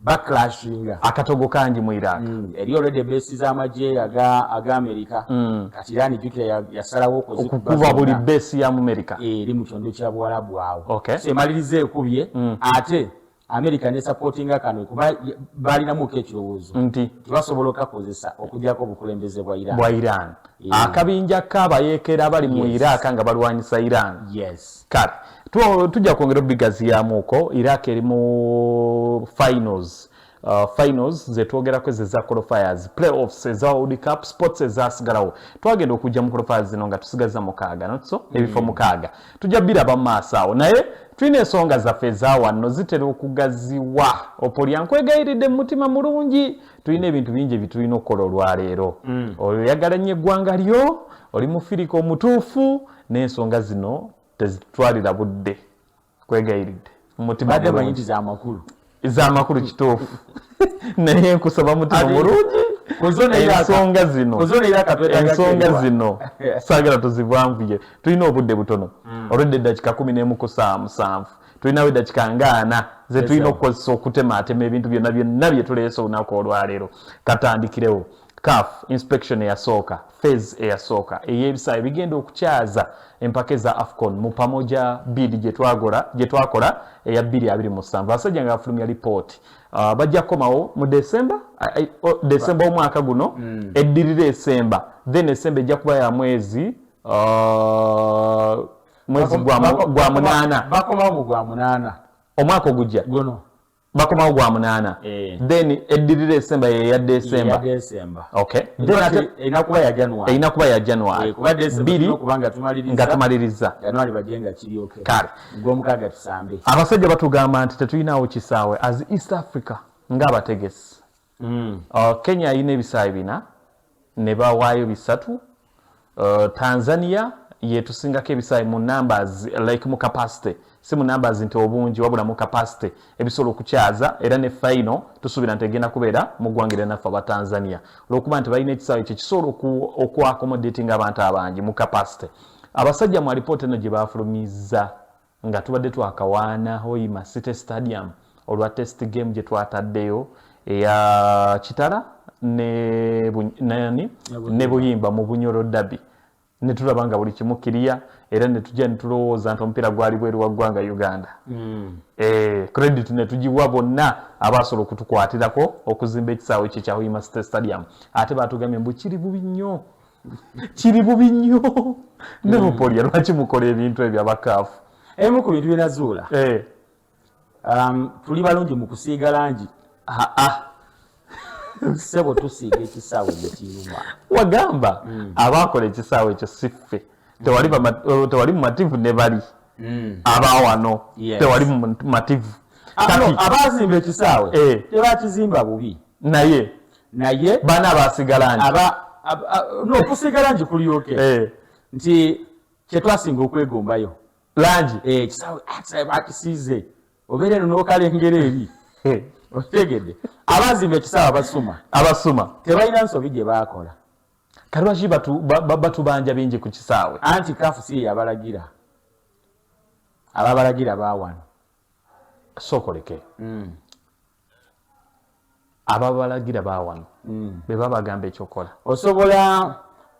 backlashinga akatogo kangi mu iraq mm. eri already besi z'amagye aga aga amerika mm. kati irani jukira yasalawo okukuba buli besi ya mu amerika eh, eri mu kyondo kya buwarabu awo okay. so emaliriza ekubye mm. ate amerika ne supportinga kano kuba balinamuko ekirowoozo nti tebasobola okakozesa okujako obukulembeze bwa iran bwa iran yeah. akabinja kabayekera bali mu yes. iraq nga balwanyisa iran yes kale tujja kwongera obigaziyamuuko iraq eri mu finals Uh, finals zetwogerako ezo eza qualifiers playoffs eza world cup sports ezasigalawo twagenda okujja mu qualifiers zino nga tusigaza mukaaga notso mm. ebifo mm. mukaaga tujja biraba mu maaso awo naye tulina ensonga zaffe ezawanno zitera okugaziwa opolya nkwegayiridde mu mutima mulungi tulina ebintu bingi ebitulina okukola olwaleero mm. oyagala nnyo eggwanga lyo oli mufirika omutuufu n'ensonga zino tezitwalira budde kwegayiridde mumutibadde manyi nti zamakulu zamakulu kituufu naye nkusaba mutima mulungi ensonga zino ensonga zino saagala tuzivanvuye tulina obudde butono mm. olwedde eddakika kumi n'emu ku saa musanvu tulinawo eddakika nga ana zetulina okukozesa okutemaatema ebintu byonna byonna byetuleese olunaku olwaleero katandikirewo caf inspection eyasooka phase eyasooka eyebisaayo bigenda okukyaza empaka eza afcon mu pamoja bid gyetwakola eya 227 abasajja nga bafulumya lipooti uh, bajja kukomawo mu december december omwaka guno mm. eddirira esemba then esemba ejja kuba ya mwezi uh, mwezi gwa munaana bakomawo mu gwa munaana omwaka ogujja guno bakomawo gwa munaana eh. then eddirira esemba yeya desemba erina kuba ya january eh, biri nga tumaliriza kale abasajja batugamba nti tetulinawo kisaawe as east africa ngaabategesi mm. uh, kenya ayina ebisaawe bina ne bawaayo bisatu uh, tanzania yetusingako ebisaawe mu numbers like mu capacity si mu numbers nti obungi wabula mu capacity ebisobola okukyaza era ne faino tusuubira nti egenda kubeera mu ggwanga era naffe aba tanzania olwokuba nti balina ekisaawe kye kisobola okuakomodatinga abantu abangi mu capacity abasajja mu alipoota eno gye bafulumiza Nga tubadde twakawaana Hoima City Stadium olwa test game gye twataddeyo eya Kitara ne nani ne Buyimba mu Bunyoro Derby ne tulaba nga buli kimu kiriya era ne tujja ne tulowooza nti omupiira gwali bweru wa ggwanga Uganda. Mm. Eh, credit ne tugiwa bonna abaasobola okutukwatirako okuzimba ekisaawe kye kya Hoima City Stadium. Ate baatugambye mbu kiri bubi nnyo kiri bubi nnyo nebupoliya mm. lwaki mukola ebintu ebyo abakaafu emu ku bintu byenazuula eh. um, tuli balungi mu kusiiga langi sebo tusiiga ekisaawe mukiyuma wagamba mm. abaakola ekisaawe ekyo siffe tewali mm. mumativu ne bali abawano tewali mumativu ah, abazimba ekisaawe eh. tebakizimba bubi naye naye bana abasigala nti aba n'okusigala nti kuli oke eh. nti kyetwasinga okwegombayo langi eh, ekisawe ah, bakisiize obeera eno n'okalengera eri eh. okitegedde abazimba ekisawe abasuma abasuma tebalina nsobi gye baakola kati lwaki batubanja bingi ku kisaawe anti kafu si eyabalagira ababalagira bawano sookoleke mm. ababalagira bawano mm. beba bagamba ekyokola osobola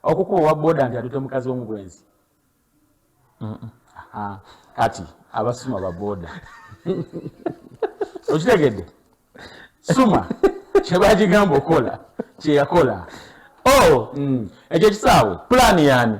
okukuba owa boda nti atute mukazi womubwenzi kati abasuma baboda okitegedde suma kyebagigamba okola kyeyakola oh, mm. ekyo kisaawe pulaani yani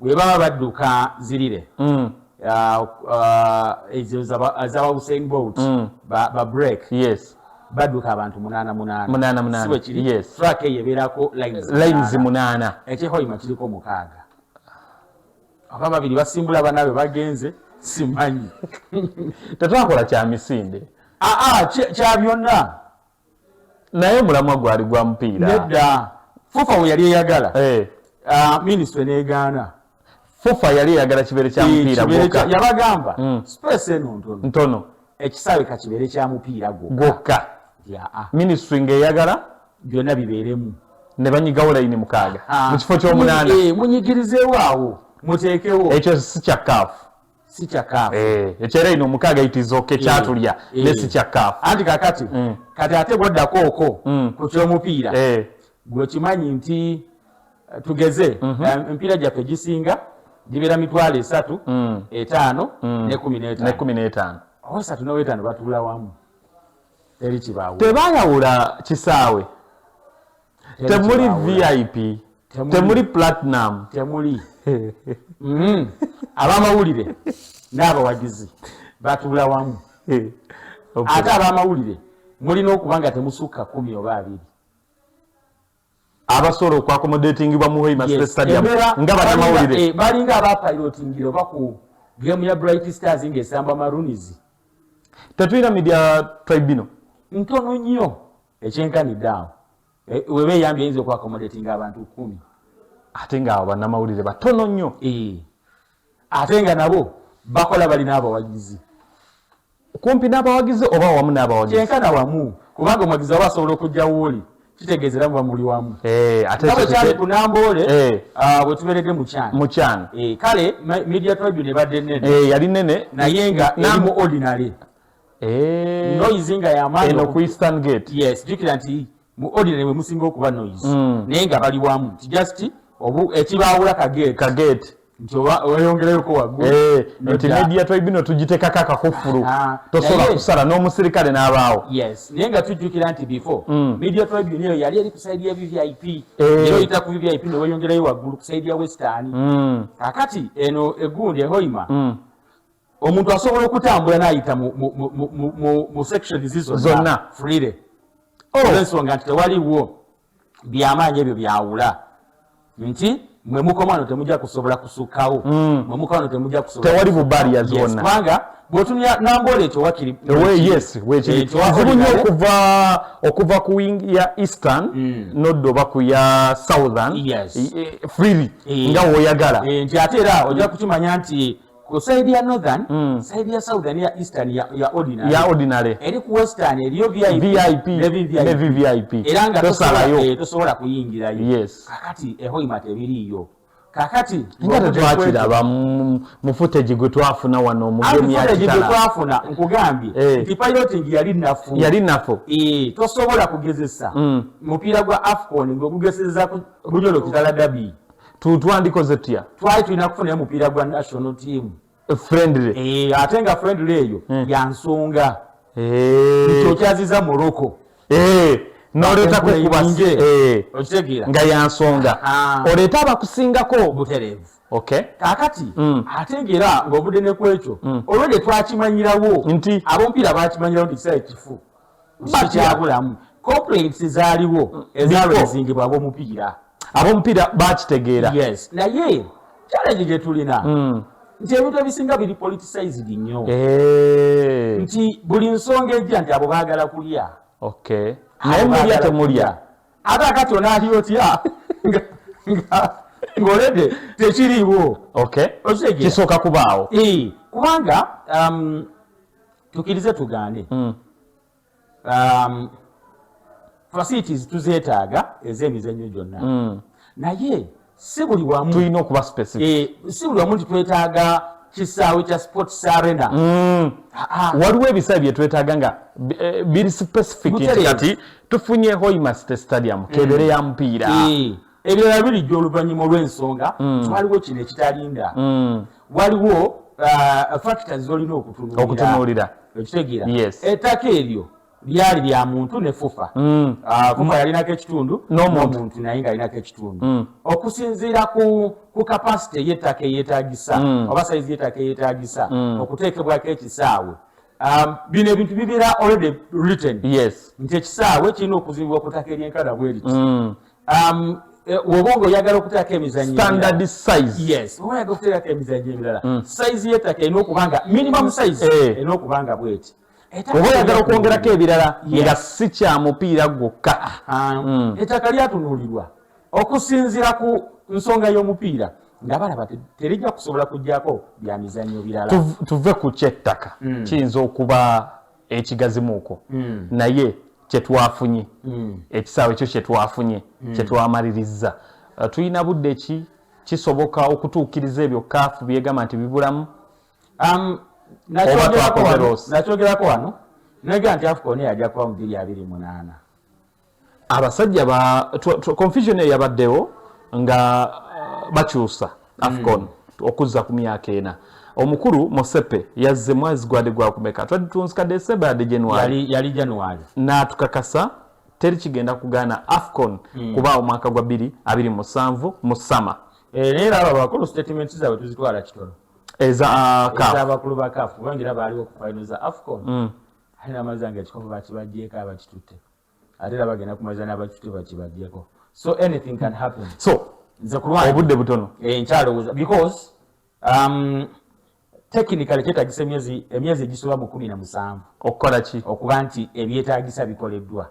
webaba badduka zirire mm. uh, uh, ezo zabawuseng boat mm. babreak badduka abantu munana munanasiwekirifrak eyo ebeerako lines munana ekyehoima kiriko mukaaga oba babiri basimbula banaabwe bagenze simanyi tetwakola kya misinde aa ah, ah, kya byonna naye omulamwa gwali gwa mupiira nedda fufa we yali eyagala eh. ah, minisitule n'egaana fufa yali eyagala kibeere kya mupiira gwokka yabagamba hmm. space eno ntono ntono ekisaawe ka kibeere kya mupiira gwokka ah. minisitule ng'eyagala byonna bibeeremu ne banyigawo layini mukaaga ah. mu kifo ky'omunaana eh, munyigirizeewo awo muteekewo ekyo si kya kaafu si kya kaafu eh, ekyera ino omukaaga itiza oke eh, kyatulya eh. ne si kya kaafu anti kakati mm. kati ate bwoddako oko mm. ku kyomupiira gwekimanyi nti tugeze mhm. emipiira gyaffe gisinga gibeera mitwalo esatu mm. etaano nekumi n'etaano osatu nowetaano batuula wamu teri kibaawo tebayawula kisaawe temuli vip temuli platinum temuli mm. abamawulire n'abawagizi batuula wamu eh, ate abamawulire mulina okuba nga temusukka kumi oba abiri abasobola okwakomodatingibwa mu hoima stadium nga banamawulire eh, balinga abapilotingira oba ku gemu ya bright stars ngaesamba marunizi tetulina media tribunal ntono nnyo ekyenkanidde awo e, weba eyambi eyinza okuakomodatinga abantu kumi ate nga awo banamawulire batono nnyo e. ate nga nabo bakola balina abawagizi kumpi n'abawagizi oba wamu n'abawagizi kyenkana wamu kubanga omuwagizi aba asobola okujja wooli kitegeeza era muba muli wamu eh, atekyo kyali ku namboole eh. ah, bwe tuberedde mukyana mukyana eh, kale media tribune ebadde nene yali nene naye nga namu ordinary eh. noise nga yamaani eno ku eastern gate yes jukira nti mu ordinary mwe musinga okuba noise mm. naye nga bali wamu nti just obu ekibaawula kagate kagate nti oyongereyoko waggulu eh, nti media twebino tugitekako akakufulu ah, tosobola kusala n'omusirikale n'abaawo yes naye nga tujjukira nti before mm. media tribune eyo yali eri kusaidi ya vvip eh. era oyita ku vvip neweyongerayo waggulu kusaidi ya western mm. kakati eno egundi ehoima omuntu asobola okutambula nayita mu sections zonna freely oh. olwensonga nti tewaliwo byamaanyi ebyo byawula nti mwe mukomano temujja kusobola kusukkawo hmm. mwe mukomano temujja kusobtewali bubaria zonna kubanga bwotumya nambola ekyo wakiri kizibu nyo okuva okuva ku wing ya eastern hmm. nodda oba ku ya southern freely eh. nga woyagala eh, nti ate era ojja kukimanya nti ku side ya northern mm. side ya southern ya eastern ya, ya ordinary ya ordinary eri ku western eriyo vip vip ne vip ne vip era nga tosala yo eh, tosobola kuyingira yo yes kakati eho imate biri yo kakati ngate twakira ba mufute jigwe twafuna wano mu game ya kitala jigwe twafuna nkugambye eh. nti piloting yali nafu yali nafu eh tosobola kugezesa mm. mupira gwa afcon ngogugezeza ku bunyolo kitala dabi tutwandikoze tutya twali tulina kufunayo mupiira gwa national team eh, friendly eh, ate nga friendly eyo hmm. yansonga eh. okyaziza morocco noleetako kubasi okitegeera nga yansonga oleeta abakusingako butereevu okay kakati mm. ate ngera ng'ovudde ne kwekyo mm. olwedde twakimanyirawo nti ab'omupiira bakimanyirawo nti kisae kifu sikyabulamu complaints zaaliwo mm. ezaalo ezingibwa abomupiira abomupiira bakitegeera yes naye challenge gye tulina mm. nti ebintu ebisinga biri politicized nnyo eh. nti buli nsonga ejja nti abo baagala kulya okay naye mulya temulya ate akati onaali otya ng'oledde tekiriiwo okay kisooka kubaawo eh, kubanga um, tukirize tugaane mm. um, facilities tuzetaaga ez'emizannyo gyonna mm. naye si buli wamu tulina okuba specific eh, si buli wamu nti twetaaga kisaawe kya sports arena mm. ah, ah. waliwo ebisaawe byetwetaaga nga eh, biri specific kati tufunye hoimaste stadium kebere ya mupiira eh. ebirala birijja oluvannyuma olw'ensonga mm. waliwo kino ekitalinda mm. waliwo uh, factors zolina okutunuulira okitegeera ettaka eryo lyali lya muntu ne fufa mm. uh, fufa yalinako ekitundu nomuntu naye nga alinako ekitundu okusinziira ku kapasite yettaka eyetagisa oba saizi yettaka eyetagisa okuteekebwako ekisaawe Um, bino ebintu bibeera already written nti ekisaawe kirina okuzibibwa ku ttaka eryenkana bweriti um, eh, woba nga oyagala okuteerako emizanyostandard size yes oba oyagala okuteerako emizanyo ebirala mm. size y'ettaka erina okuba nga minimum mm. size eh. erina okuba nga bweti oba oyagala okwongerako ebirala nga si kya mupiira gwokka mm. ettaka lyatunuulirwa okusinziira ku nsonga y'omupiira nga balaba terijja kusobola kujjako bya mizanyo birala tuve ku kyettaka kiyinza okuba ekigazimuuko mm. naye kyetwafunye mm. ekisaawe ekyo kyetwafunye mm. kyetwamalirizza uh, tulina budde ki kisoboka okutuukiriza ebyo kaafu byegamba nti bibulamu um, nakyogerako wano nega nti afcon yajja kuba mu biri abiri munaana abasajja ba confusion eyo yabaddewo nga uh, bakyusa afcon mm. okuzza ku myaka ena omukulu mosepe yazze mwezi gwade gwakumeka twali tunzika decemba yade january yali january natukakasa teri kigenda kugaana afcon mm. kuba omwaka gwa biri abiri musanvu mu sama era era abo abakulu statement zabwe tuzitwala kitono eza uh, abakulu ba kafu bangira baaliwo ku final za afcon mm. ate namazi ange ekikopo bakibajjeeko abakitutte ate era bagenda kumaliza n'abakitutte bakibajjeko so anything can happen so nze kulwange obudde butono eh, nkyalowooza because um, technically kyetagisa emyezi emyezi egisoba mu kumi na musanvu okukola ki okuba nti ebyetagisa bikoleddwa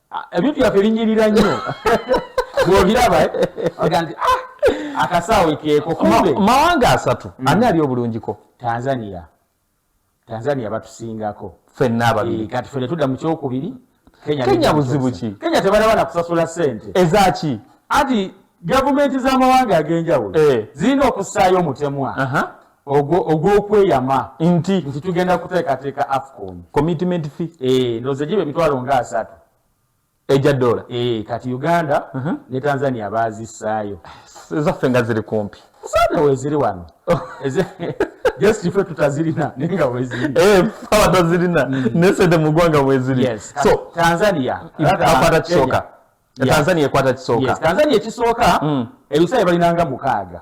ah, ebintu byaffe binyirira nnyo bwobiraba eh? oga nti ah, akasaawe keeko kumbe mawanga asatu mm. ani ali obulungiko tanzania tanzania batusingako fenna ababiri eh, kati fene tudda mu kyokubiri kenya buzibu ki kenya tebalaba na kusasula sente ezaki anti gavumenti z'amawanga ag'enjawulo eh. zirina okussaayo omutemwa ogwo ogwokweyama nti nti tugenda kuteekateeka afcon commitment fee eh, ndoze giba emitwalo nga asatu eja dola eh, kati uganda uh mhm. -huh. ne tanzania baazisaayo ezaffe nga ziri kumpi sana weziri wano oh. just ife tutazirina naye nga wezirina eh, abatazirina mm. naye sente mu ggwanga weziri so tanzania akwata kisooka tanzania ekwata kisooka tanzania ekisooka mm. ebisaayo balinanga mukaaga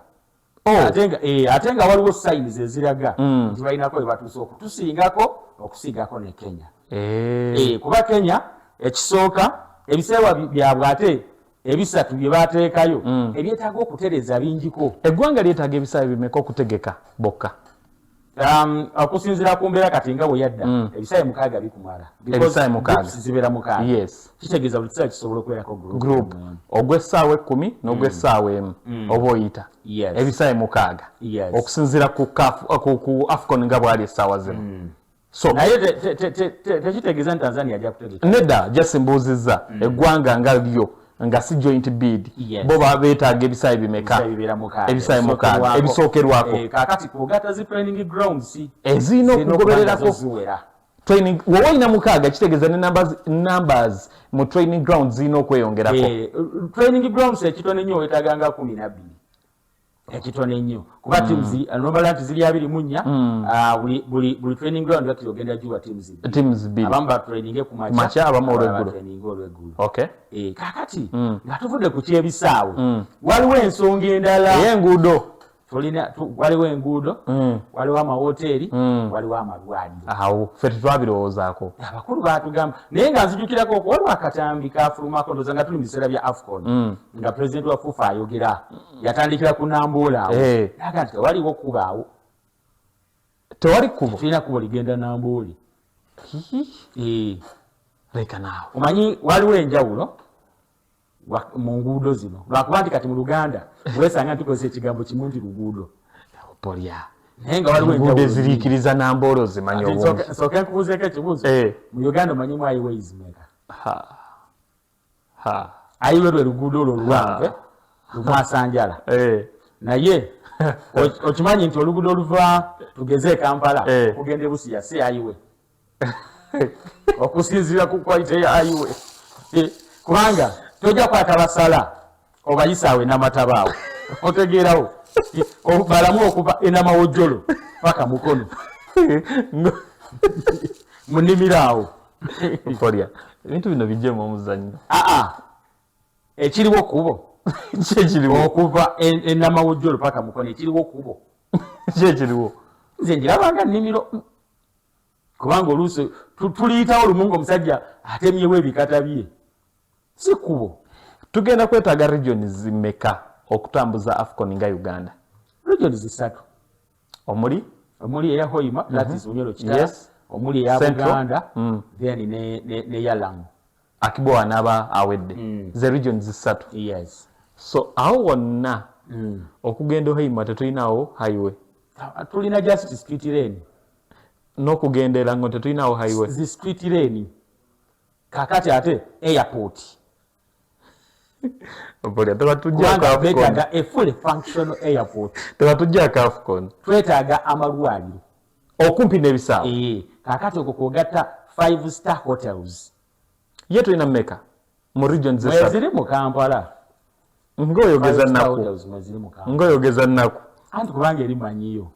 Oh. Eh, ate nga waliwo sayini zeziraga mm. nti balinako webatuuse okutusingako okusiigako ne kenya eh. Eh, kuba kenya ekisooka ebiseewa byabwe ate ebisatu bye bateekayo mm. ebyetaaga okutereza bingiko eggwanga lyetaaga ebisaawe bimeka okutegeka bokka Um, okusinzira ku mbeera kati nga weyadda mm. ebisaawe mukaaga bikumala zibeera mukaaga kitegeeza buli kisaawe kisobola okubeerako group ogw'essaawa ekkumi n'ogw'essaawa mm. emu mm. oba oyita ebisaawe mukaaga okusinzira ku afcon nga bwali essaawa zino so naye tekitegeeza nti tanzania ajja kutegeka nedda just mbuuzizza mm. eggwanga nga lyo nga si joint bid bo beetaaga ebisaayi bimeka ebisaayi mukaaga ebisookerwako eh, kakati kugata zi training grounds ezirina okugobererako training woba olina mukaaga kitegeeza ne numbers, numbers mu training grounds zirina okweyongerako eh, training grounds ekitono ennyo weetaganga kumi nabbiri ekitono ennyo kuba mm. teams nomala nti ziri abiri mu nnya mm. ah, buli training ground bakira ogenda giwa teams bbiri abamu batraininge ku makya abamu olweggulotraininge olweggulo eh, kakati mm. nga tuvudde ku kyebisaawe waliwo ensonga endala enguudo tulina waliwo enguudo waliwo amawoteeri waliwo amalwaliro awo fe tetwabirowoozaako abakulu batugamba naye nga nzijukirako okuwaliwo akatambi kafulumako ndoza nga tuli mu biseera bya afcon nga president wa fufa ayogera yatandikira ku nambuula awo eh. naga nti tewaliwo kubaawo tewali kubo tulina kubo ligenda nambuuli eh. leka naawe omanyi waliwo enjawulo mu nguudo zino lwakuba nti kati mu luganda wesanga ntukozesa ekigambo kimu nti luguudo polya naye nga waliwo enjawulo eziriikiriza nambuula ozimanyi obungi nsooke nkubuuzeeko ekibuuzo eh. mu uganda omanyi mwayiwo izimeka ayi lwe lwe luguudo olwo oluwanvu eh? lukwasanjala eh. naye okimanyi nti oluguudo oluva tugeze ekampala eh. okugenda ebusiya si ayiwe okusinziira ku kwalite ya ayiwe kubanga tojja kwata basala obayisaawo enamatabaawo otegeerawo balamu okuva enamawojjolo paka mukono munimiro awo okolya ebintu bino bijemu omuzannyo aa ah, ah. ekiriwo kubo kyekiriwo okuva enamawojjolo paka mukono ekiriwo kubo kyekiriwo nze njirabanga nimiro kubanga oluusi tuliyitawo lumu nga omusajja atemyewo ebikata bye si kubo tugenda kwetaaga region zimeka okutambuza afcon nga uganda region zisatu omuli omuli eya hoima mm -hmm. that is mhm. unyoro kitala yes. omuli eya buganda mm. then ne, ne, ne yalamu akibowa naba awedde mm. ze region zisatu yes so awo wonna mm. okugenda hoima tetulinawo highway tulina justice street lane nokugendera ngo tetulinawo highway zi street lane kakati ate airport Obolya tuba tujja ka Afcon. Twetaaga a fully functional airport. Tuba tujja ka Afcon. Twetaaga amalwaliro. Okumpi n'ebisaawe. Eh, kakati okwo kwogatta five star hotels. ye tulina meka mu region zeziri mu kampala ngaoyogeza naku ngaoyogeza naku anti kubanga eri manyiyo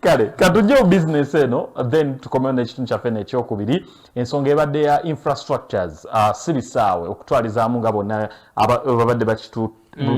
kale katujje mu bizinesi eno then tukomewo n'ekitundu kyaffe nekyokubiri ensonga ebadde ya infrastructures uh, si bisaawe okutwalizaamu nga bonna babadde bakitu mm.